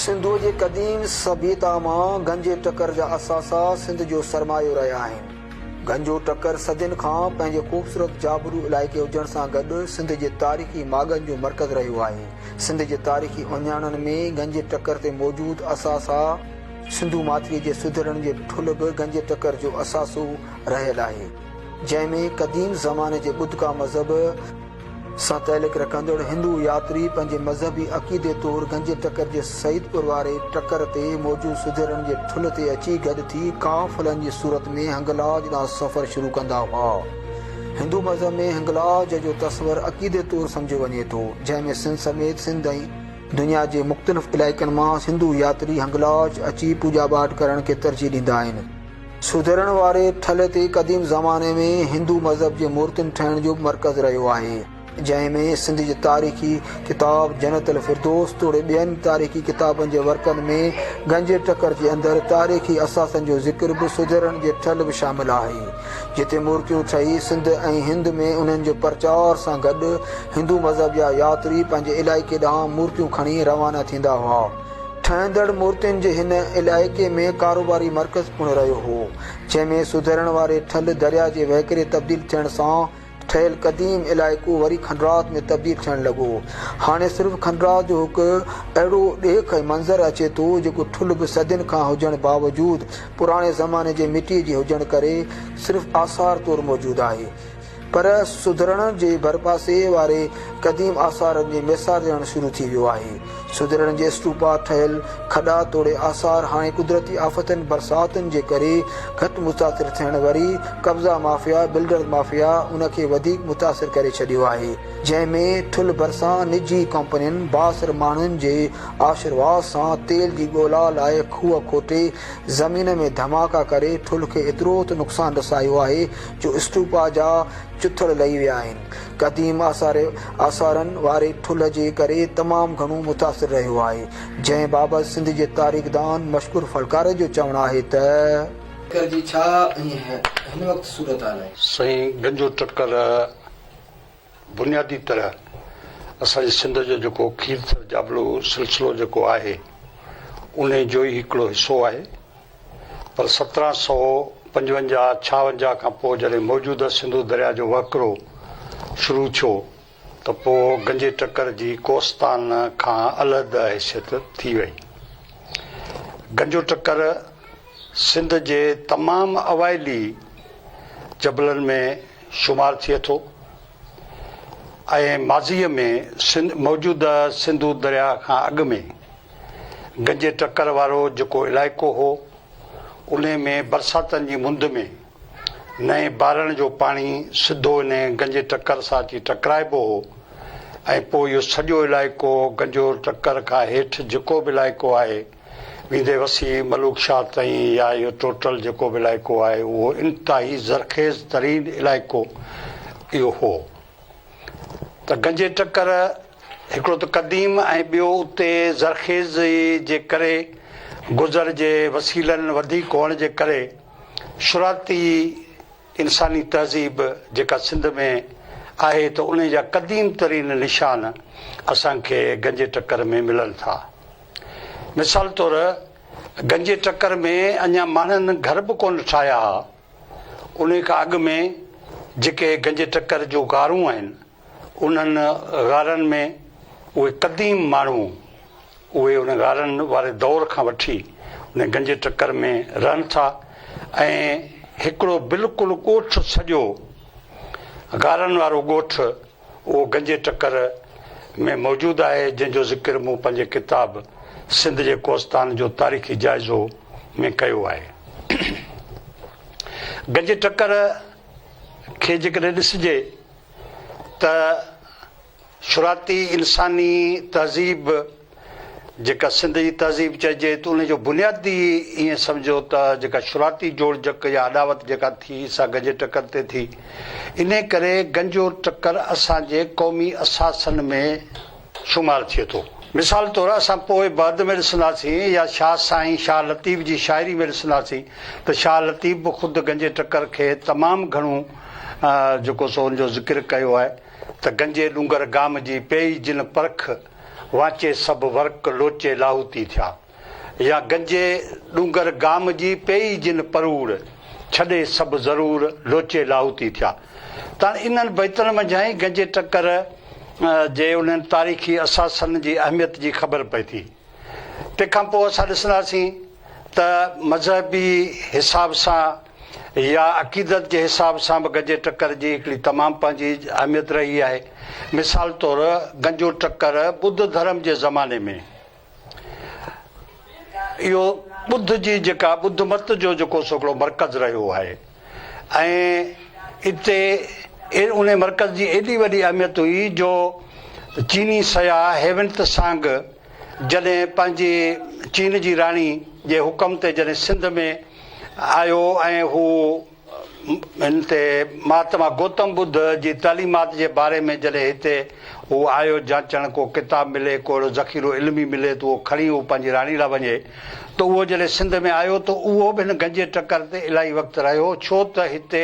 سنڌوء جي قديم سڀيتا مان گهنجي ٽڪر جا اثاثا سنڌ جو سرمايو رهيا آهن. گهنجو ٽڪر صدين کان پنهنجي خوبصورت جابلو علائقي هجڻ سان گڏ سنڌ جي تاريخي ماڳن جو مرڪز رهيو آهي. سنڌ جي تاريخي اهڃاڻن ۾ گهنجي ٽڪر تي موجود اثاثا، سنڌو ماٿريء جي سڌرڻ جي ٺلهه به گنج ٽڪر جو اثاثو رهيل آهي، جنهن ۾ قديم زماني جي ٻڌڪا مذهب سان تعلق رکندڙ هندو ياتري پنهنجي مذهبي عقيدي طور گنج ٽڪر جي سعيدپور واري ٽڪر تي موجود سڌرڻ جي ٺلهه تي اچي گڏ ٿي قافلن جي صورت ۾ هنگلاج ڏانهن سفر شروع ڪندا هئا. هندو مذهب ۾ هنگلاج جو تصور عقيدي طور سمجهيو وڃي ٿو، جنهن ۾ سنڌ سميت سنڌ ۽ دنيا جي مختلف علائقن مان سنڌو ياتري هنگلاج اچي پوڄا پاٺ ڪرڻ کي ترجيح ڏيندا آهن. سڌرڻ واري ٺلهي تي قديم زماني ۾ هندو مذهب جي مورتين ٺهڻ جو به مرڪز رهيو آهي، جنهن ۾ سنڌ جي تاريخي ڪتاب جنت الفردوس توڙي ٻين تاريخي ڪتابن جي ورقن ۾ گنجي ٽڪر جي اندر تاريخي اثاثن جو ذڪر به سڌرڻ جي ٺلهه به شامل آهي. جتي مورتيون ٺهي سنڌ ۽ هند ۾ انهن جي پرچار سان گڏ هندو مذهب جا ياتري پنهنجي علائقي ڏانهن مورتيون کڻي روانا ٿيندا هئا. ٺهندڙ مورتين جي هن علائقي ۾ ڪاروباري مرڪز پڻ رهيو هو، جنهن ۾ سڌرڻ واري ٺل درياء جي وهڪري تبديل ٿيڻ سان، ٺهيل قديم علائقو وري کنڊرات ۾ تبديل ٿيڻ لڳو. هاڻي صرف کنڊرات جو هڪ اهڙو ڏيک ۽ منظر اچي ٿو، جيڪو ٺلهه به صدين کان هجڻ باوجود پراڻي زماني جي مٽيء جي هجڻ ڪري صرف آثار طور موجود آهي. پر سڌرڻ جي ڀرپاسي واري قديم آثارن جي ميسارجڻ شروع ٿي ويو آهي. سڌرڻ جي اسٽوپا ٺهيل کڏا توڙي آثار هاڻي قدرتي آفتن برساتن جي ڪري گهٽ متاثر ٿيڻ وري قبضا مافيا بلڊرز مافيا ان کي وڌيڪ متاثر ڪري ڇڏيو آهي جنهن ۾ ٺل ڀرسان نجي ڪمپنين بااثر ماڻهن جي آشرواز سان تيل جي ڳولا لاء کوهه کوٽي زمين ۾ ڌماڪا ڪري ٺل کي ايترو ته نقصان رسايو آهي جو اسٽوپا جا چٿڙ لهي ويا آهن قديم آثار آثارن واري ٺلهه جي ڪري تمام گهڻو متاثر رهيو آهي، جنهن بابت سنڌ جي تاريخدان مشڪور ڦڙڪاري جو چوڻ آهي ته. ٽڪر جي ڇا هن وقت صورتحال آهي؟ سائين گنجو ٽڪر بنيادي طرح اسان جي سنڌ جو جيڪو کير ٿر جابلو سلسلو جيڪو آهي انهي جوئي هڪڙو حصو آهي. پر سترهن سؤ پنجونجاهه ڇاونجاهه کان پوء جڏهن موجوده سنڌو درياء جو وهڪرو شروع ٿيو ته پوء گنجي ٽڪر جي ڪوستان کان علحده حيثيت ٿي وئي. گنجو ٽڪر سنڌ جي تمام اوائلي جبلن ۾ شمار ٿئي ٿو. ۽ ماضيء ۾ سنڌ موجوده سنڌو درياء کان اڳ ۾ گنجي ٽڪر وارو جيڪو علائقو هو، انهي ۾ برساتن جي مند ۾ نئين بارڻ جو پاڻي سڌو انهي گنجي ٽڪر سان اچي ٽڪرائبو هو ۽ پوء اهو سڄو علائقو گنجو ٽڪر کان هيٺ جيڪو به علائقو آهي، ويندي وسيع ملوڪشاهه تائين يا اهو ٽوٽل جيڪو به علائقو آهي اهو انتهائي زرخيز ترين علائقو اهو هو ته گنجي ٽڪر هڪڙو ته قديم ۽ ٻيو اتي زرخيزي جي ڪري گذر جي وسيلن وڌيڪ هئڻ جي ڪري شرعتي انساني تهذيب جيڪا سنڌ ۾ آهي ته انهي جا قديم ترين نشان اسان کي گنجي ٽڪر ۾ ملن ٿا. مثال طور گنجي ٽڪر ۾ اڃا ماڻهن گهر به ڪونه ٺاهيا ها. انهي کان اڳ ۾ جيڪي گنجي ٽڪر جون غارون آهن انهن غارن ۾ اهي قديم ماڻهو اهي ان غارن واري دور کان وٺي ان گنجي ٽڪر ۾ رهن ٿا ۽ هڪڙو بلڪل ڳوٺ سڄو غارن وارو ڳوٺ اهو گنجي ٽڪر ۾ موجود آهي جنهن جو ذڪر مون پنهنجي ڪتاب سنڌ جي ڪوستان جو تاريخي جائزو ۾ ڪيو آهي. گنجي ٽڪر کي جيڪڏهن ڏسجي ته شروعاتي انساني تهذيب جيڪا سنڌ جي تهذيب چئجي ته ان جو بنيادي ائين سمجهو ته جيڪا شروعاتي جوڙجڪ يا اڏاوت جيڪا ٿي سا گنجي ٽڪر تي ٿي انهي ڪري گنجو ٽڪر اسان جي قومي اثاثن ۾ شمار ٿئي ٿو. مثال طور اسان پوء بعد ۾ ڏسنداسين يا شاهه سائين شاهه لطيف جي شاعري ۾ ڏسنداسين ته شاهه لطيف به خود گنجي ٽڪر کي تمام گهڻو جيڪو سو ان جو ذڪر ڪيو آهي ته گنجي ڏونگر گام جي پيئي جن پرک وانچي سڀ ورق لوچي لاهوتي ٿيا يا گنجي ڏونگر گام جي پيئي جن پروڙ ڇڏي سڀ ضرور لوچي لاهوتي ٿيا تاڻي انهن بيتن منجهان ئي گنجي ٽڪر جي انهن تاريخي اثاثن جي اهميت جي خبر پئي ٿي. تنهن کان پوء اسان ڏسنداسين ته مذهبي حساب سان يا عقيدت جي حساب سان به گنجي ٽڪر جي هڪڙي تمام پنهنجي اهميت رهي آهي. مثال طور گنجو ٽڪر ٻڌ ڌرم جي زماني ۾ اهو ٻڌ جي جيڪا ٻڌ مت جو جيڪو سو هڪڙو مرڪز رهيو آهي. ۽ اتي انهي مرڪز جي ايڏي وڏي اهميت هئي جو چيني سياح هيونت سانگ جڏهن پنهنجي چين جي راڻي جي حڪم تي جڏهن سنڌ ۾ آيو ۽ هو هن تي مهاتما گوتم ٻڌ جي تعليمات جي باري ۾ جڏهن هتي هو آيو جانچڻ ڪو ڪتاب ملي ڪو اهڙو ذخيرو علمي ملي ته اهو کڻي هو پنهنجي راڻي لاء وڃي ته اهو جڏهن سنڌ ۾ آيو ته اهو به هن گنجي ٽڪر تي الاهي وقت رهيو ڇو ته هتي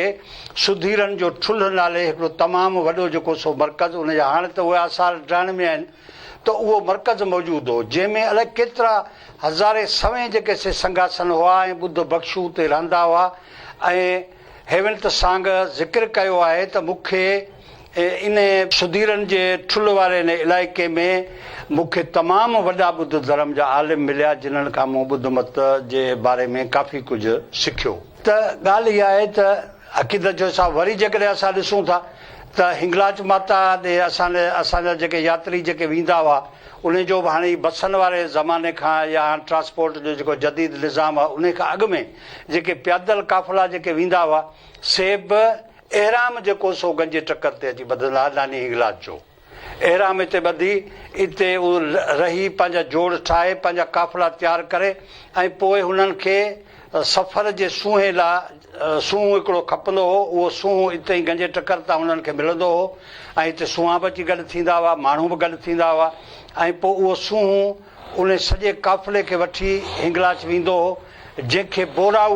سڌيرن جو ٺلهه نالي هڪڙو تمام وڏو جيڪو سو مرڪز ان جا هاڻ ته اهي آثار ڊاهڻ ۾ آهن ته اهو مرڪز موجود هو جنهن ۾ الائي ڪيترا هزارين سوين جيڪي سي سنگهاسن هئا ۽ ٻڌ ڀڪشو اتي رهندا هئا ۽ هيونت سانگه ذڪر ڪيو آهي ته مون کي ان سڌيرن جي ٺلهه واري ان علائقي ۾ مون کي تمام وڏا ٻڌ ڌرم جا عالم مليا جنھن کان مون ٻڌ مت جي باري ۾ ڪافي ڪجهه سکيو. ته ڳالهه اها آهي ته عقيدت جو حساب وري جيڪڏهن اسان ڏسون ٿا ته هنگلاج ماتا ڏي اسان اسان جا جيڪي ياتري جيڪي ويندا هئا ان جو به هاڻي بسن واري زماني کان يا هاڻ ٽرانسپورٽ جو جيڪو جديد نظام آهي ان کان اڳ ۾ جيڪي پيادل قافلا جيڪي ويندا هئا، سي به احرام جي ڪوسو گن جي ٽڪر تي اچي ٻڌندا هئا، ناني هنگلاج جو احرام اتي ٻڌي، اتي هو رهي، پنهنجا جوڙ ٺاهي، پنهنجا قافلا تيار ڪري ۽ پوء هنن کي سفر جي سونهن لاء سونهون هڪڙو کپندو هو، اهو سونهون اتي ئي گن جي ٽڪر تان هنن کي ملندو هو ۽ اتي سونهان به اچي گڏ ٿيندا هئا، ماڻهو به گڏ ٿيندا هئا ۽ پوء اهو سونهون. ان سڄي قافلي کي وٺي هنگلاج ويندو هو، جنهن کي بوراؤ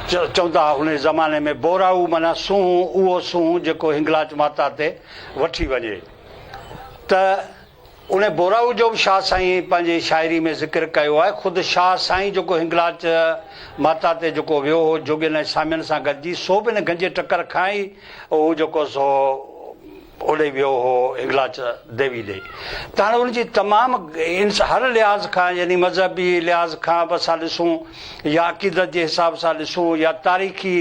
چوندا ها، ان زماني ۾ بوراؤ معنيٰ سونهون، اهو سونهون جيڪو هنگلاج ماتا تي وٺي وڃي ته ان بوراؤ جو به شاهه سائين پنهنجي شاعري ۾ ذڪر ڪيو آهي، خود شاهه سائين جيڪو هنگلاج ماتا تي جيڪو ويو هو جوڳين ۽ سامين سان گڏجي سو به ان گنجي ٽڪر کان ئي هو جيڪو سو. اوڏي ويو هو هنگلاج ديوي ڏي ته هاڻي ان جي تمام انس هر لحاظ کان يعني مذهبي لحاظ کان به اسان ڏسون يا عقيدت جي حساب سان ڏسون يا تاريخي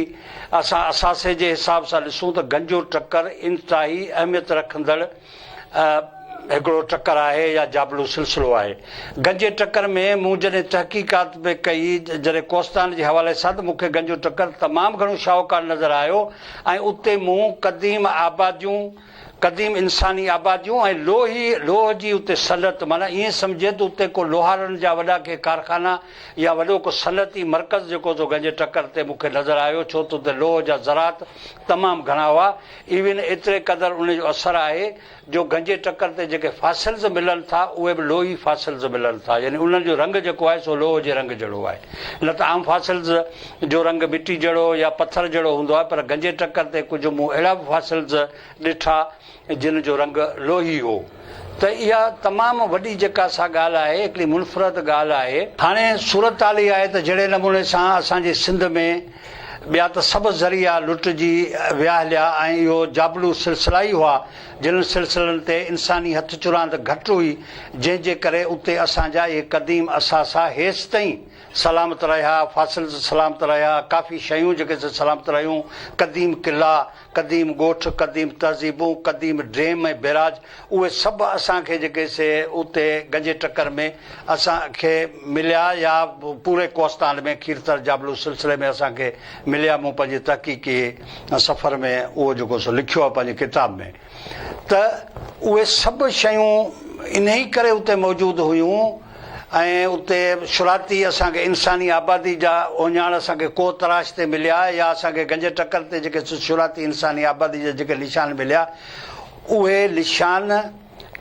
اسان اثاثي جي حساب سان ڏسون ته گنجو ٽڪر انتهائي اهميت رکندڙ هڪڙو ٽڪر آهي يا جابلو سلسلو آهي گنجي ٽڪر ۾ مون جڏهن تحقيقات به ڪئي جڏهن ڪوستان جي حوالي سان ته مون کي گنجو ٽڪر تمام گهڻو شاهوڪار نظر آيو ۽ اتي مون قديم آباديون، قديم انساني آباديون ۽ لوهي، لوهه جي اتي صنعت معنيٰ ائين سمجهه ته اتي ڪو لوهارن جا وڏا ڪي ڪارخانا يا وڏو ڪو صنعتي مرڪز جيڪو تو گنج ٽڪر تي مون کي نظر آيو ڇو ته اتي لوهه جا ذرات تمام گهڻا هئا ايون ايتري قدر ان جو اثر آهي جو گنجي ٽڪر تي جيڪي فاسلز ملن ٿا اهي به لوهي فاسلز ملن ٿا يعني انهن جو رنگ جيڪو آهي سو لوهه جي رنگ جهڙو آهي نه ته عام فاسلز جو رنگ مٽي جهڙو يا پٿر جهڙو هوندو آهي پر گنجي ٽڪر تي ڪجهه مون اهڙا به فاسلز ڏٺا جن جو رنگ لوهي هو ته اها تمام وڏي جيڪا سا ڳالهه آهي هڪڙي منفرد ڳالهه آهي. هاڻي صورتحال اها آهي ته جهڙي نموني سان اسان جي سنڌ ۾ ٻيا ته سڀ ذريعا لٽجي ويا هليا ۽ اهو جابلو سلسلا ئي هئا، جنھن سلسلن تي انساني هٿ چراند گهٽ هئي، جنھن جي ڪري اتي اسان جا اهي قديم اثاثا هيستائين سلامت رهيا، فاصل سلامت رهيا، ڪافي شيون جيڪي سلامت رهيون، قديم قلعا، قديم ڳوٺ، قديم تهذيبون، قديم ڊيم ۽ بيراج اهي سڀ اسان کي جيڪي سي اتي گنجي ٽڪر ۾ اسان کي مليا يا پوري ڪوهستان ۾ کيرٿر جابلو سلسلي ۾ اسان کي مليا مون پنهنجي تحقيقي سفر ۾ اهو جيڪو سو لکيو آهي پنهنجي ڪتاب ۾ ته اهي سڀ شيون انهي ڪري اتي موجود هيون ۽ اتي شرارتي اسان کي انساني آبادي جا اوهڃاڻ اسان کي ڪوهه تراش تي مليا يا اسان کي گنج ٽڪر تي جيڪي شرارتي انساني آبادي جا جيڪي نشان مليا اهي نشان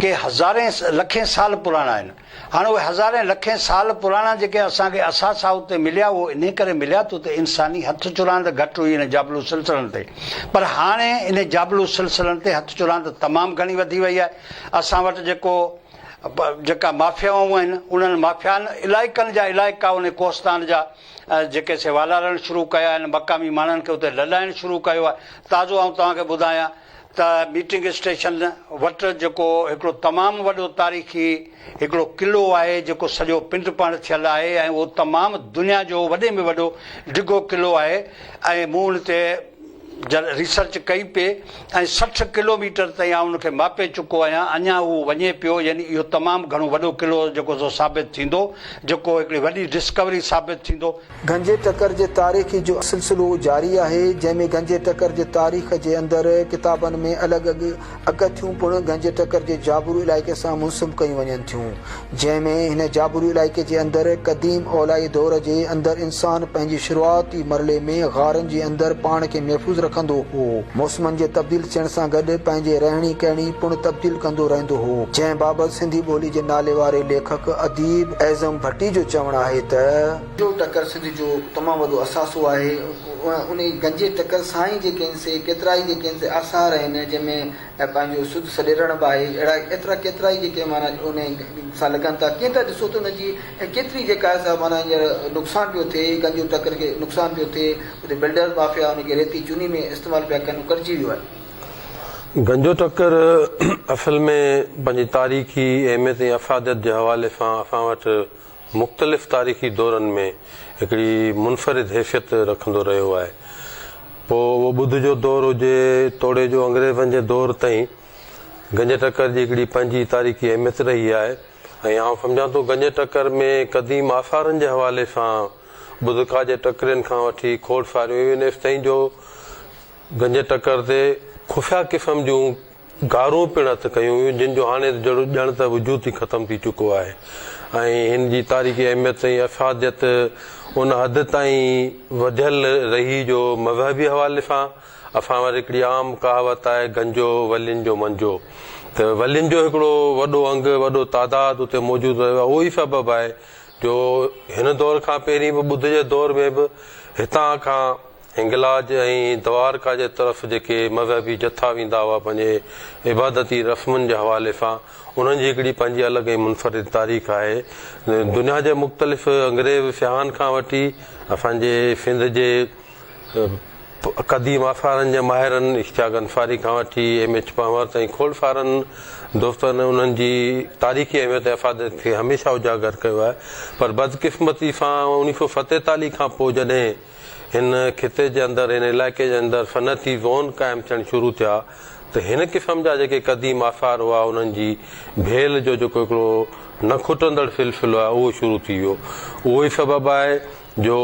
ڪي هزارين لکين سال پراڻا آهن هاڻ اهي هزارين لکين سال پراڻا جيڪي اسان کي اثاثا اتي مليا اهو انهي ڪري مليا ته اتي انساني هٿ چراند گهٽ هئي انهن جابلو سلسلن تي پر هاڻي انهي جابلو سلسلن تي هٿ چراند تمام گهڻي وڌي وئي آهي اسان وٽ جيڪو جيڪا مافيائون آهن انهن مافيائن علائقن جا علائقا ان ڪوهستان جا جيڪي سي والارڻ شروع ڪيا آهن مقامي ماڻهن کي اتي لڏائڻ شروع ڪيو آهي تازو آئون توهان کي ٻڌايان ته ميٽنگ اسٽيشن وٽ جيڪو هڪڙو تمام وڏو تاريخي هڪڙو قلعو آهي جيڪو سڄو پنڊ پاڻ ٿيل آهي ۽ اهو تمام دنيا جو وڏي ۾ وڏو ڊگهو قلعو آهي ۽ مون ان تي جڏهن ريسرچ ڪئي پئي ۽ سٺ ڪلو ميٽر تائين آئون ان کي ماپي چڪو آهيان اڃان اهو وڃي پيو يعني اهو تمام گهڻو وڏو قلعو جيڪو سو ثابت ٿيندو جيڪو هڪڙي وڏي ڊسڪوري ثابت ٿيندو. گنجي ٽڪر جي تاريخ جو سلسلو جاري آهي جنهن ۾ گنجي ٽڪر جي تاريخ جي اندر ڪتابن ۾ الڳ اڳڪٿيون پڻ گنج ٽڪر جي جابرو علائقي سان منسب ڪيون وڃن ٿيون، جنهن ۾ هن جابرو علائقي جي اندر قديم اولائي دور جي اندر انسان پنهنجي شروعاتي مرحلي ۾ غارن جي اندر پاڻ کي محفوظ رکندو هو، موسمن جي تبديل ٿيڻ سان گڏ پنهنجي رهڻي ڪهڻي پڻ تبديل ڪندو رهندو هو، جنهن بابت سنڌي ٻولي جي ناليواري ليکڪ اديب اعظم ڀٽي جو چوڻ آهي ته. گنجو ٽڪر سنڌ جو تمام وڏو اثاثو آهي. انهي گنجي ٽڪر سان ئي جيڪي هن سي ڪيترائي جيڪي هن سي آثار آهن جنهن ۾ پنهنجو سڌ سڏيرڻ به آهي. اهڙا ايترا ڪيترائي جيڪي معنيٰ انهي سان لڳن ٿا. ڪيئن ته ڏسو ته ان جي ڪيتري جيڪا آهي سا معنيٰ هينئر نقصان پيو ٿئي. گنجو ٽڪر کي نقصان پيو ٿئي. اتي بلڊر مافيا ان کي ريتي چوني ۾ استعمال پيا ڪن. هو ڪٽجي ويو آهي. گنجو ٽڪر اصل ۾ پنهنجي تاريخي اهميت ۽ افاديت جي حوالي سان اسان وٽ مختلف تاريخي دورن ۾ هڪڙي منفرد حيثيت رکندو رهيو آهي. پوء اهو ٻڌ جو دور هجي توڙي جو انگريزن جي دور تائين گنج ٽڪر جي هڪڙي پنهنجي تاريخي اهميت رهي آهي ۽ آئون سمجهان ٿو گنج ٽڪر ۾ قديم آثارن جي حوالي سان ٻڌ کا جي ٽڪرين کان وٺي کوڙ ساريون ايونيس تائين جو گنج ٽڪر تي خفيه قسم جون گارون پڻ هٿ ڪيون ويون، جن جو هاڻي جهڙو ڄڻ ته وجود ئي ختم ٿي چڪو آهي ۽ هن جي تاريخي اهميت ۽ افاديت ان حد تائين وڌيل رهي جو مذهبي حوالي سان اسان وٽ هڪڙي عام ڪهاوت آهي گنجو ولين جو منجو ته ولين جو هڪڙو وڏو انگ وڏو تعداد اتي موجود رهيو اهو ئي سبب آهي جو هن دور کان پهرين به ٻڌ جي دور ۾ به هتان کان هنگلاج ۽ دوارڪا جي طرف جيڪي مذهبي جٿا ويندا هئا پنهنجي عبادتي رسمن جي حوالي سان انهن جي هڪڙي پنهنجي الڳ ۽ منفرد تاريخ آهي دنيا جي مختلف انگريز سياحن کان وٺي اسان جي سنڌ جي قديم آثارن جي ماهرن اشتياق انصاري کان وٺي ايم ايڇ پنهور تائين کوڙ سارن دوستن انهن جي تاريخي اهميت ۽ افاديت کي هميشه اجاگر ڪيو آهي پر بدقسمتي سان اڻيهه سو ستيتاليهه کان پوء جڏهن هن خطي جي اندر، هن علائقي جي اندر صنعتي زون قائم ٿيڻ شروع ٿيا ته هن قسم جا جيڪي قديم آثار هئا انهن جي ڀيل جو جيڪو هڪڙو نه کٽندڙ سلسلو آهي اهو شروع ٿي ويو. اهو ئي سبب آهي جو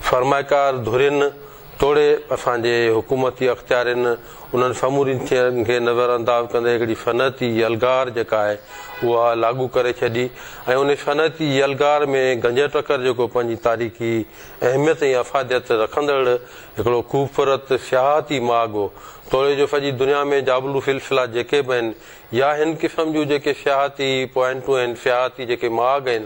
سرمائيڪار ڌرين توڙي اسان جي حڪومتي اختيارين انهن سمورين شين کي نظر انداز ڪندي هڪڙي صنعتي يلغار جيڪا آهي اها لاڳو ڪري ڇڏي ۽ انهي صنعتي يلغار ۾ گنجهه ٽڪر جيڪو پنهنجي تاريخي اهميت ۽ افاديت رکندڙ هڪڙو خوبصورت سياحتي ماڳ هو. توڙي جو سڄي دنيا ۾ جابلو سلسلا جيڪي به آهن يا هن قسم جون جيڪي سياحتي پوائنٽون آهن، سياحتي جيڪي ماڳ آهن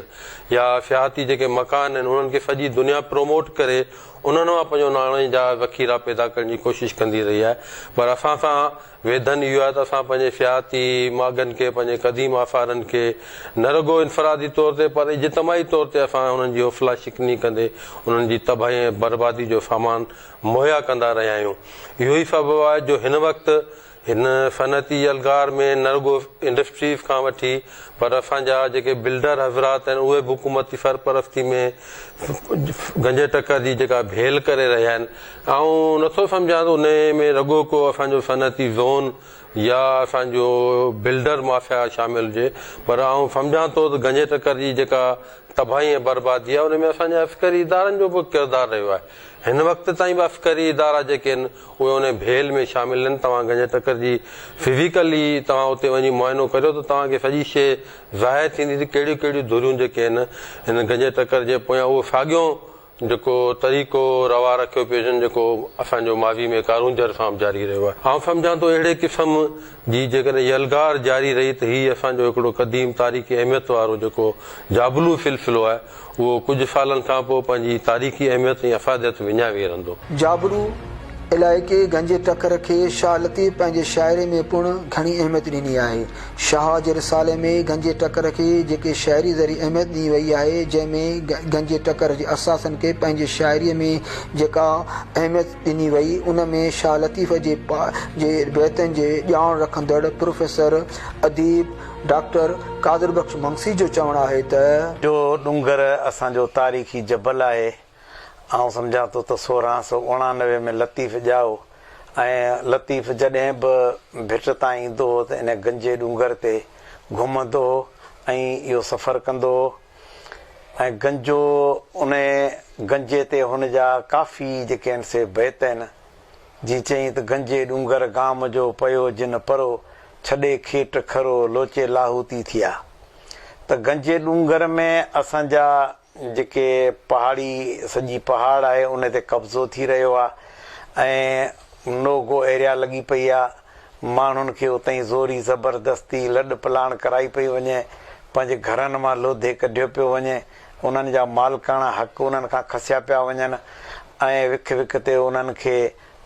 يا سياحتي جيڪي مڪان آهن انهن کي سڄي دنيا پروموٽ ڪري انهن مان پنهنجو ناڻي جا ذخيرا پيدا ڪرڻ جي ڪوشش ڪندي رهي آهي پر اسان سان ويڌن اهو آهي ته اسان پنهنجي سياحتي ماڳن کي، پنهنجي قديم آثارن کي نه رڳو انفرادي طور تي پر اجتماعي طور تي اسان انهن جي حوصلا شڪني ڪندي انهن جي تباهي ۽ بربادي جو سامان مهيا ڪندا رهيا آهيون. اهو ئي سبب آهي جو هن وقت هن صنعتي يلغار ۾ نه رڳو انڊسٽريز کان وٺي پر اسان جا جيڪي بلڊر حضرات آهن اهي به حڪومتي سرپرستي ۾ گنجي ٽڪر جي جيڪا ڀيل ڪري رهيا آهن آئون نه ٿو سمجهان ته انهيء ۾ رڳو ڪو اسان جو صنعتي زون يا اسان جو بلڊر مافيا شامل هجي، پر آئون سمجهان ٿو ته گنجي ٽڪر جي جيڪا تباهي ۽ بربادي آهي، ان ۾ اسان جي عسڪري ادارن جو به ڪردار رهيو آهي. هن وقت تائين به عسڪري ادارا جيڪي آهن، اهي انهيء ڀيل ۾ شامل آهن. توهان گنجي ٽڪر جي فزيڪلي توهان اتي وڃي معائنو ڪريو ته توهان کي سڄي شيء ظاهر ٿيندي ته ڪهڙيون ڪهڙيون ڌريون جيڪي آهن، هن گنجي ٽڪر جي پويان اهو ساڳيون جيڪو طريقو روا رکيو پيو وڃي جيڪو اسان جو ماضي ۾ ڪارونجهر سان به جاري رهيو آهي. آئون سمجهان ٿو اهڙي قسم جي جيڪڏهن يلغار جاري رهي ته هي اسان جو هڪڙو قديم تاريخي اهميت وارو جيڪو جابلو سلسلو آهي اهو ڪجهه سالن کان پوء پنهنجي تاريخي اهميت ۽ افاديت وڃائي ويهرندو. جابلو علائقي گنجي ٽڪر کي شاهه لطيف پنهنجي شاعري ۾ پڻ گهڻي اهميت ڏني آهي. شاهه جي رسالي ۾ گنجي ٽڪر کي جيڪي شاعري ذريعي اهميت ڏني وئي آهي، جنهن ۾ گنجي ٽڪر جي اثاثن کي پنهنجي شاعريء ۾ جيڪا اهميت ڏني وئي، ان ۾ شاهه لطيف جي جي بيتن جي ڄاڻ رکندڙ پروفيسر اديب ڊاڪٽر قادر بخش منگسي جو چوڻ آهي ته. جو ڏونگر اسان جو تاريخي جبل آهي. آئون سمجهان ٿو ته سورهن سؤ اڻانوي ۾ لطيف ڄائو ۽ لطيف جڏهن به ڀٽ تان ايندو هو ته ان گنجي ڏونگر تي گهمندو هو ۽ اهو سفر ڪندو هو ۽ گنجو ان گنجي تي هن جا ڪافي جيڪي آهن سي بيت آهن جيئن چيائين ته گنجي ڏونگر گام جو پيو جن پرو ڇڏي کيٽ کرو لوچي لاهوتي ٿيا ته گنجي ڏونگر ۾ اسان جا جيڪي پهاڙي سڄي پهاڙ آهي ان تي قبضو ٿي رهيو آهي ۽ نو گو ايريا لڳي پئي آهي ماڻهن کي اتئين زوري زبردستي لڏ پلاڻ ڪرائي پئي وڃي پنهنجي گهرن مان لوڌي ڪڍيو پيو وڃي انهن جا مالڪاڻا حق انهن کان کسيا پيا وڃن ۽ وک وک تي انهن کي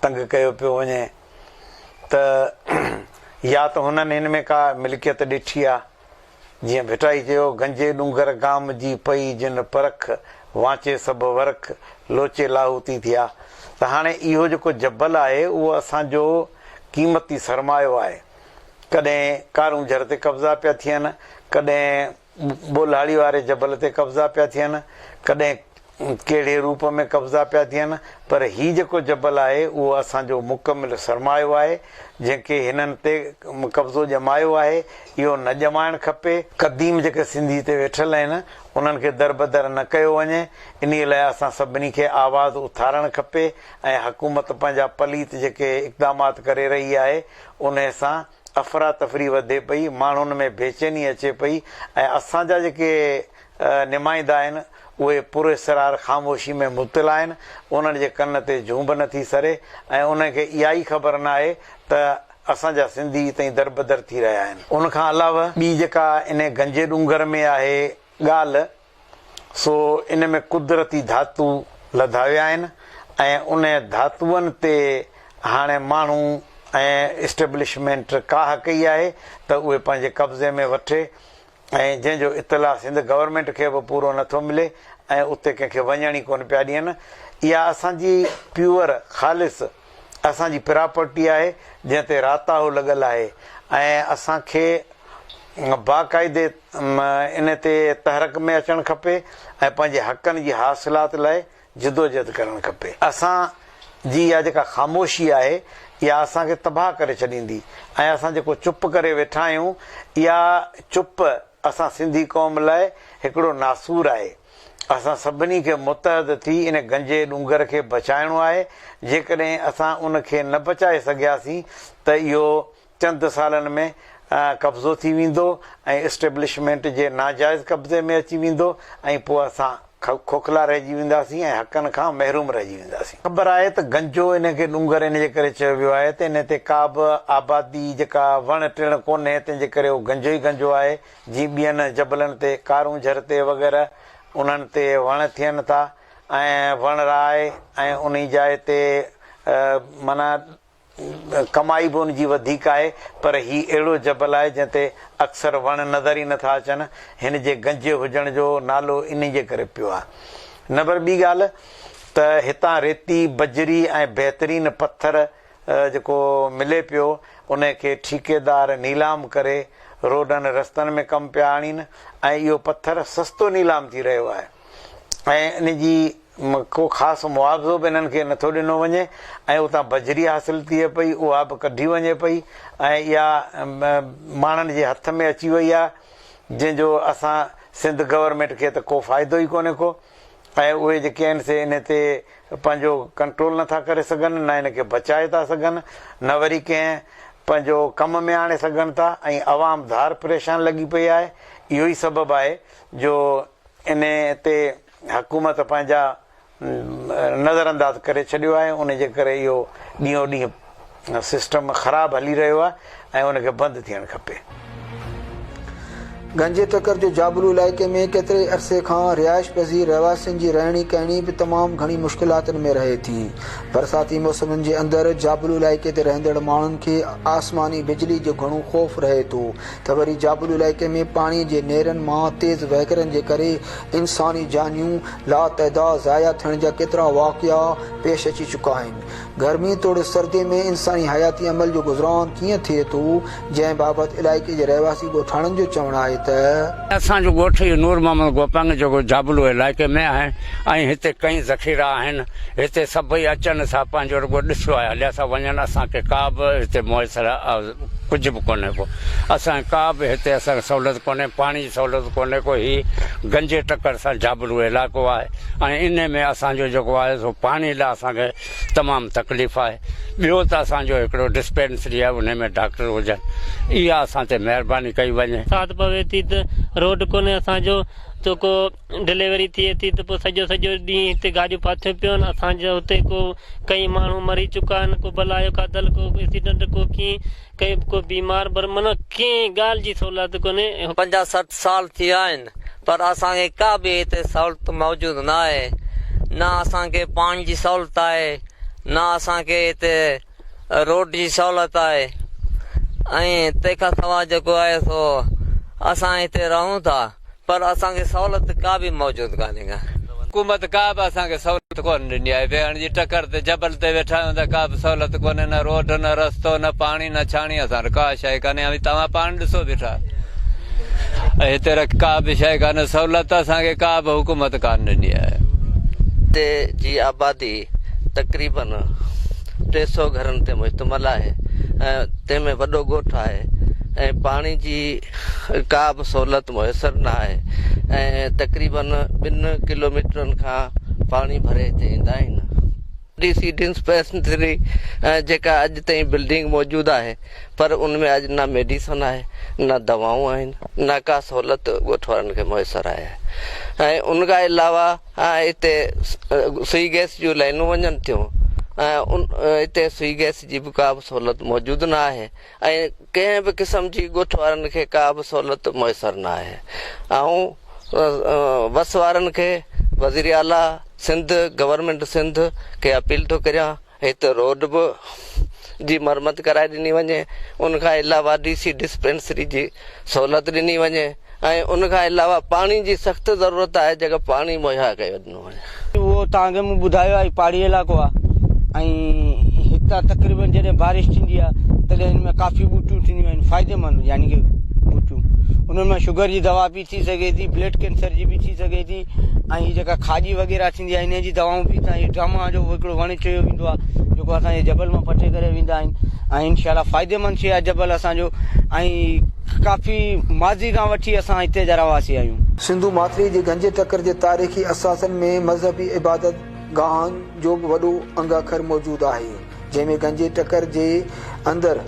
تنگ ڪيو پيو وڃي ته يا ته هنن هن ۾ ڪا ملڪيت ڏٺي آهي جيئن ڀٽائي چيو، گنجي ڏونگر گام جي پئي جن پرک، وانچي سڀ ورک، لوچي لاهوتي ٿيا. ته هاڻي اهو جيڪو جبل آهي، اهو اسان جو قيمتي سرمايو آهي. ڪڏهن ڪارونجهر تي قبضا پيا ٿين، ڪڏهن ٻولهاڙي واري جبل تي قبضا پيا ٿين، ڪڏهن ڪهڙي روپ ۾ قبضا پيا ٿين پر هي جيڪو جبل آهي اهو اسان جو مڪمل سرمايو آهي جنهن کي هنن تي قبضو ڄمايو آهي اهو نه ڄمائڻ کپي، قديم جيڪي سنڌي تي ويٺل آهن انهن کي دربدر نه ڪيو وڃي انهي لاء اسان سڀني کي آواز اٿارڻ کپي ۽ حڪومت پنهنجا پليت جيڪي اقدامات ڪري رهي آهي انهي سان افراتفري وڌي پئي، ماڻهن ۾ بيچيني اچي پئي ۽ اسان جا جيڪي نمائندا آهن اهي پراسرار خاموشي ۾ مبتلا آهن، انهن جي ڪن تي جون به نٿي سري ۽ انهن کي اها ئي خبر ناهي ته اسان جا سنڌي تئين دربدر ٿي رهيا آهن. ان کان علاوه ٻي جيڪا انهي گنجي ڏونگر ۾ آهي ڳالهه، سو ان ۾ قدرتي ڌاتو لڌا ويا آهن ۽ ان ڌاتوئن تي هاڻي ماڻهو ۽ اسٽيبلشمينٽ ڪاهه ڪئي آهي ته اهي پنهنجي قبضي ۾ وٺي ۽ جنهن جو اطلاع سنڌ گورنمينٽ کي به پورو نه ٿو ملي ۽ اتي ڪنهن کي وڃڻ ئي ڪونه پيا ڏين اها اسان جي پيور خالص اسان جي پراپرٽي آهي جنهن تي راتاهو لڳل آهي ۽ اسان کي باقاعدي م ان تي تحرڪ ۾ اچڻ کپي ۽ پنهنجي حقن جي حاصلات لاء جدوجهد ڪرڻ کپي. اسان جي اها جيڪا خاموشي آهي اها اسان کي تباهه ڪري ڇڏيندي ۽ اسان جيڪو چپ ڪري ويٺا آهيون اها چپ اسان سنڌي قوم لاء هڪڙو ناسور آهي. اسان سڀني کي متحد ٿي ان گنجي ڏونگر کي بچائڻو آهي جيڪڏهن اسان ان کي نه بچائي سگهياسين ته اهو چند سالن ۾ قبضو ٿي ويندو ۽ اسٽيبلشمينٽ جي ناجائز قبضي ۾ اچي ويندو ۽ پوء اسان کوکلا رهجي وينداسين ۽ حقن کان محروم رهجي وينداسين. خبر آهي ته گنجو ان کي ڏونگر ان جي ڪري چيو ويو آهي ته انهي تي ڪابه آبادي جيڪا وڻ ٽڻ ڪونهي تنهن جي ڪري اهو گنجو ئي گنجو آهي جيئن ٻين جبلن تي ڪارونجهر تي وغيره انهن تي وڻ ٿين ٿا ۽ وڻ راهي ۽ انهي جاء تي معنيٰ ڪمائي به ان جي وڌيڪ آهي، پر هي اهڙو جبل آهي جنهن تي اڪثر وڻ نظر ئي نٿا اچن. هن جي گنجي هجڻ جو نالو انهي جي ڪري پيو آهي. نمبر ٻي ڳالهه ته هتان ريتي، بجري ۽ بهترين پٿر جيڪو ملي پيو، انهي کي ٺيڪيدار نيلام ڪري روڊن رستن ۾ ڪم پيا آڻين ۽ اهو پٿر سستو نيلام ٿي رهيو آهي ۽ ان جي م ڪو خاص معاوضو به انهن کي نٿو ڏنو وڃي ۽ اتان بجري حاصل ٿئي پئي اها به ڪڍي وڃي پئي ۽ اها م ماڻهن جي هٿ ۾ اچي وئي آهي جنهن جو اسان سنڌ گورنمينٽ کي ته ڪو فائدو ئي ڪونهي ڪو ۽ اهي جيڪي آهن سي ان تي پنهنجو ڪنٽرول نٿا ڪري سگهن نه ان کي بچائي ٿا سگهن نه وري ڪنهن پنهنجو ڪم ۾ آڻي سگهن ٿا ۽ عوام ڌار پريشان لڳي پئي آهي اهو ئي سبب آهي جو ان تي حڪومت پنهنجا نظرانداز ڪري ڇڏيو آهي ان جي ڪري اهو ڏينهون ڏينهن سسٽم خراب هلي رهيو آهي ۽ ان کي بند ٿيڻ کپي. گنجي ٽڪر جو جابلو علائقي ۾ ڪيتري ئي عرصي کان رهائش پذير رهواسين جي رهڻي ڪهڻي به تمام گهڻي مشڪلاتن ۾ رهي ٿي. برساتي موسمن جي اندر جابلو علائقي تي رهندڙ ماڻهن کي آسماني بجلي جو گهڻو خوف رهي ٿو ته وري جابلو علائقي ۾ پاڻي جي نهرن مان تيز وهڪرن جي ڪري انساني جانيون لاتعداد ضايع ٿيڻ جا ڪيترا واقعا پيش اچي چڪا آهن. گرمي توڙي سردي ۾ انساني حياتي عمل جو گذران ڪيئن ٿئي ٿو، جنهن بابت علائقي جي رهواسي ڳوٺاڻن جو چوڻ آهي ته. اسان جو ڳوٺ اهو نور محمد گوپنگ جيڪو جابلو علائقي ۾ آهي ۽ هتي ڪئين ذخيرا آهن، هتي سڀئي اچن ٿا پنهنجو رڳو ڏسيو آهي هليا ٿا وڃن اسان کي ڪا به هتي ميسر ڪجهه به ڪونهي ڪو اسان کي ڪا به هتي اسان کي سهولت ڪونهي پاڻي جي سهولت ڪونهي ڪو هي گنجي ٽڪر سان جابلو علائقو آهي ۽ انهي ۾ اسان جو جيڪو آهي سو پاڻي لاء اسان کي تمام تڪليف آهي ٻيو ته اسان جو هڪڙو ڊسپينسري آهي انهي ۾ ڊاڪٽر هجن اها اسان تي مهرباني ڪئي وڃي. ساعت پوي ٿي ته روڊ ڪونهي اسان جو تو ڪو. ڊليوري ٿئي ٿي ته پوء سڄو سڄو ڏينهن هتي گاڏيون ڦاٿيون پيون اسان جا هتي ڪو ڪئين ماڻهو مري چڪا آهن ڪو بلا جو کاڌل ڪو ايڪسيڊنٽ ڪو ڪيئن ڪئين به ڪو بيمار پر معنيٰ ڪنهن ڳالهه جي سهولت ڪونهي. پنجاهه سٺ سال ٿي ويا آهن پر اسان کي ڪا به هتي سهولت موجود نه آهي نه اسان کي پاڻي جي سهولت آهي نه اسان کي هتي روڊ جي سهولت آهي ۽ تنهن کان سواء جيڪو آهي سو اسان هتي رهون ٿا پر اسان کي سهولت ڪا به موجود ڪانهي ڪا. حڪومت ڪا به اسان کي سهولت ڪونه ڏني آهي. ويهڻ جي ٽڪر تي جبل تي ويٺا آهيون ته ڪا به سهولت ڪونهي نه روڊ نه رستو نه پاڻي نه ڇاڻي اسان وٽ ڪا شيء ڪانهي اوهين توهان پاڻ ڏسو بيٺا ۽ هتي رک ڪا به شيء ڪانهي سهولت اسان کي ڪا به حڪومت ڪانه ڏني آهي. هتي جي آبادي تقريبن. ٽي سؤ گهرن تي مشتمل آهي ۽ تنهن ۾ وڏو ڳوٺ آهي ۽ پاڻي جي ڪا به سهولت ميسر نه آهي ۽ تقريبن ٻن ڪلوميٽرن کان پاڻي ڀري هتي ايندا آهن ڊي سي ڊسپينسري جيڪا اڄ تائين بلڊنگ موجود آهي پر ان ۾ اڄ نه ميڊيسن آهي نه دوائون آهن نه ڪا سهولت ڳوٺ وارن کي ميسر آهي ۽ ان کان علاوه اتي سوئي گئس جون لائنون وڃن ٿيون ۽ اتي سوئي گئس جي به ڪا به سهولت موجود نه آهي ۽ ڪنهن به قسم جي ڳوٺ وارن کي ڪا به سهولت ميسر نه آهي آئون وس وارن کي وزيراعليٰ سنڌ گورنمينٽ سنڌ کي اپيل ٿو ڪريان هت روڊ به جي مرمت ڪرائي ڏني وڃي ان کان علاوه ڊي سي ڊسپينسري جي سهولت ڏني وڃي ۽ ان کان علاوه پاڻي جي سخت ضرورت آهي جيڪا پاڻي مهيا ڪيو ڏنو وڃي. اهو ته اڳ مون ٻڌايو آهي پهاڙي علائقو آهي ۽ هتان تقريبن جڏهن بارش ٿيندي آهي تڏهن هن ۾ ڪافي ٻوٽيون ٿينديون آهن فائديمند يعني ڪي ٻوٽيون انهن ۾ شگر جي دوا به ٿي سگهي ٿي بلڊ ڪينسر جي به ٿي سگهي ٿي ۽ هي جيڪا کاڄي وغيره ٿيندي آهي انهيء جي دوائون به هتان هي ڊراما جو هڪڙو وڻ چيو ويندو آهي جيڪو اسان جي جبل مان پٽي ڪري ويندا آهن ۽ انشاءالله فائديمند شيء آهي جبل اسان جو ۽ ڪافي ماضي کان وٺي اسان هتي جا رهواسي آهيون. سنڌو ماٿري جي گهنجي ٽڪر جي تاريخي اثاثن ۾ مذهبي عبادت گاهن جو به وڏو انگ اکر موجود آهي جنهن ۾ گهنجي ٽڪر جي اندر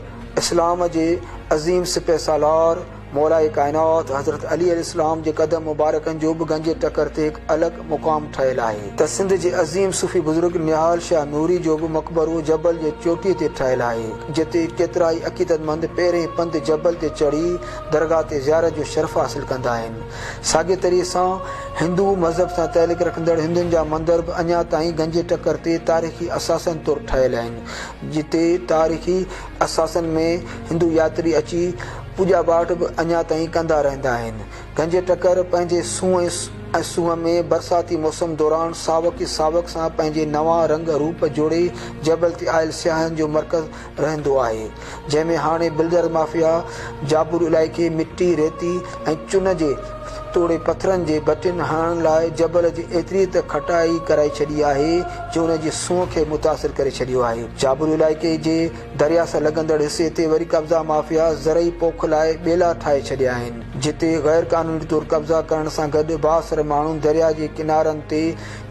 اسلام جي عظيم سپه سالار، مولائي ڪائنات حضرت علي عليه السلام جي قدم مبارڪن جو به گنجي ٽڪر تي هڪ الڳ مقام ٺهيل آهي ته سنڌ جي عظيم صوفي بزرگ نهال شاهه نوري جو به مقبرو جبل جي چوٽيء تي ٺهيل آهي جتي ڪيترائي عقيدتمند پهرئين پنڌ جبل تي چڙهي درگاهه تي زيارت جو شرف حاصل ڪندا آهن ساڳي طريقي سان هندو مذهب سان تعلق رکندڙ هندن جا مندر به اڃا تائين گنجي ٽڪر تي تاريخي اثاثن طور ٺهيل آهن جتي تاريخي اثاثن ۾ هندو ياتري اچي پوڄا پاٺ به اڃا تائين ڪندا رهندا آهن. گنجي ٽڪر پنهنجي سونهن ۽ سونهن ۾ برساتي موسم دوران ساوڪ ئي ساوڪ سان پنهنجي نوان رنگ روپ جوڙي جبل تي آيل سياحن جو مرڪز رهندو آهي جنهن ۾ هاڻي بلڊر مافيا جابلو علائقي مٽي ريتي ۽ چن جي توڙي پٿرن جي ڀٽين هڻڻ لاء جبل جي ايتري ته کٽائي ڪرائي ڇڏي آهي جو ان جي سونهن کي متاثر ڪري ڇڏيو آهي جابلو علائقي جي درياء سان لڳندڙ حصي تي وري قبضا مافيا زرعي پوک لاء ٻيلا ٺاهي ڇڏيا آهن، جتي غير قانوني طور قبضا ڪرڻ سان گڏ بااثر ماڻهن درياء جي ڪنارن تي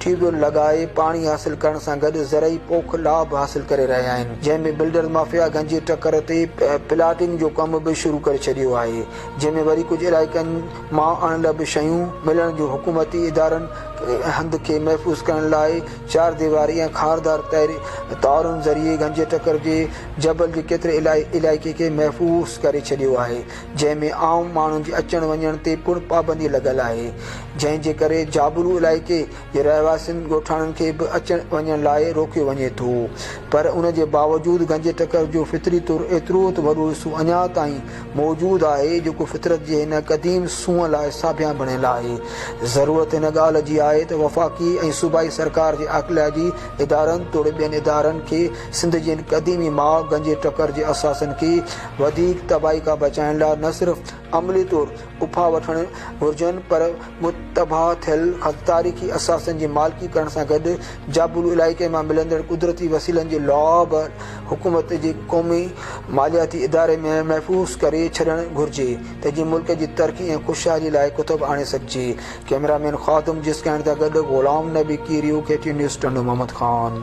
ٽيوبويل لڳائي پاڻي حاصل ڪرڻ سان گڏ زرعي پوک لا به حاصل ڪري رهيا آهن، جنهن ۾ بلڊرز مافيا گنجي ٽڪر تي پلاٽنگ جو ڪم به شروع ڪري ڇڏيو آهي، جنهن ۾ وري ڪجهه علائقن مان اڻ لڀ شيون ملڻ جون حڪومتي ادارن هنڌ کي محفوظ ڪرڻ لاء چار ديواري ۽ خاردار تارن ذريعي گنجي ٽڪر جي جبل جي ڪيتري علائقي کي محفوظ ڪري ڇڏيو آهي جنهن ۾ عام ماڻهن جي اچڻ وڃڻ تي پڻ پابندي لڳل آهي جنهن جي ڪري جابلو علائقي جي رهواسين ڳوٺاڻن کي به اچڻ وڃڻ لاء روڪيو وڃي ٿو پر ان جي باوجود گنجي ٽڪر جو فطري طور ايترو ته وڏو حصو اڃا تائين موجود آهي، جيڪو فطرت جي هن قديم سونهن لاء ساڀيان بڻيل آهي. ضرورت هن ڳالهه جي آهي ته وفاقي ۽ صوبائي سرڪار جي عاقلائجي ادارن توڙي ٻين ادارن کي سنڌ جي هن قديمي ماء گنجي ٽڪر جي اثاثن کي وڌيڪ تباهي کان بچائڻ لاء نه صرف عملي طور اپاء وٺڻ گهرجن پر متباع ٿيل تاريخي اثاثن جي مالڪي ڪرڻ سان گڏ جابلو علائقي مان ملندڙ قدرتي وسيلن جي لاء به حڪومت جي قومي مالياتي اداري ۾ محفوظ ڪري ڇڏڻ گهرجي ته جيئن ملڪ جي ترقي ۽ خوشحالي لاء ڪتب آڻي سگهجي ڪئميرا مين خادم جسڪاڻي سان گڏ Ghulam Nabi Kerio, K T V news, Tando Muhammad Khan.